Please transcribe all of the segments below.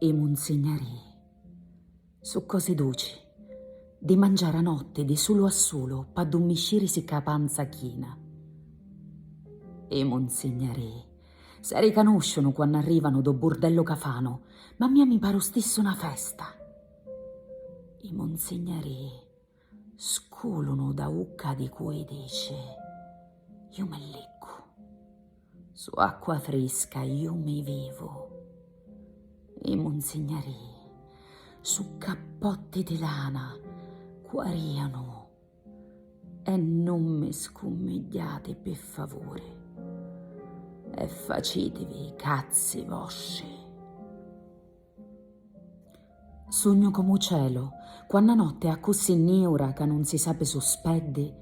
I munzignari su cosi duci, di mangiari a notti di sulu a sulu p'addummiscirisi c'a panza china. I munzignari s'aricanusciunu quann'arrivanu do burdellu ca fanu, ma a mia mi paru stissu na festa. I munzignari. Sculunu da ucca di cui dici, Ju mi liccu. Su acqua frisca ju mi vivu. I munzignarii su cappotti di lana cuarianu e nun mi scummigghiati pi favuri e facitivi i cazzi vostri. Sugnu comu u celu, quanna notti è accussì niura ca nun si sapi su speddi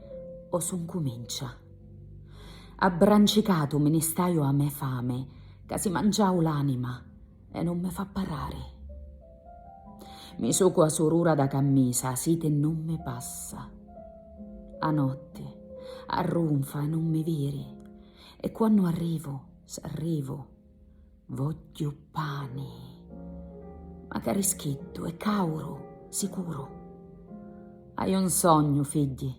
o su ncumincia. Abbrancicatu mi ni staiu a me fami ca si mangiau l'anima e nun mi fa parrari. Mi sucu a surura da cammisa, a siti nun mi passa. A notti arrunfa e nun mi viri e quannu arrivu, s'arrivu, Vogghiu pani. Macari schiddu e cauru, sicuru. Haiu un sognu, figghi,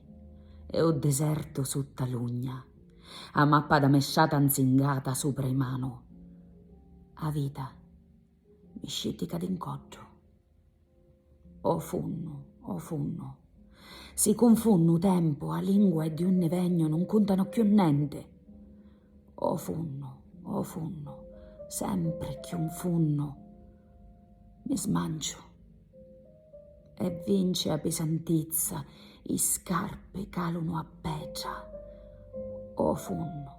e u desertu sutta l'ugna, a mappa da me sciata nzingata supra i manu. A vita mi scittica di ncoddu. O funnu, o funnu. Si cunfunnu u tempu, a lingua e di unni vegnu nun cuntanu cchiù nenti. O funnu, o funnu, sempri cchiù 'n funnu mi smanciu. E vinci a pisantizza, i scarpi calunu a petra. O funnu,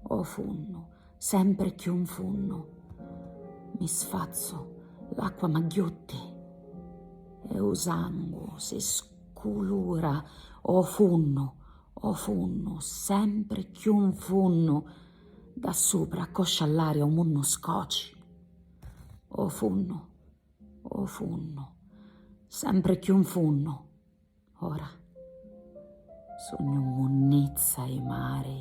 o funnu. Sempri cchiù 'nfunnu. Mi sfazzu, l'acqua m'agghiutti. E 'u sangu si sculura ô funnu, ô funnu, sempri cchiù 'nfunnu. Dda supra accoscia all'aria 'u munnu scoci. Ô funnu, ô funnu, sempri cchiù 'nfunnu. Ora sugnu munnizza 'i mari.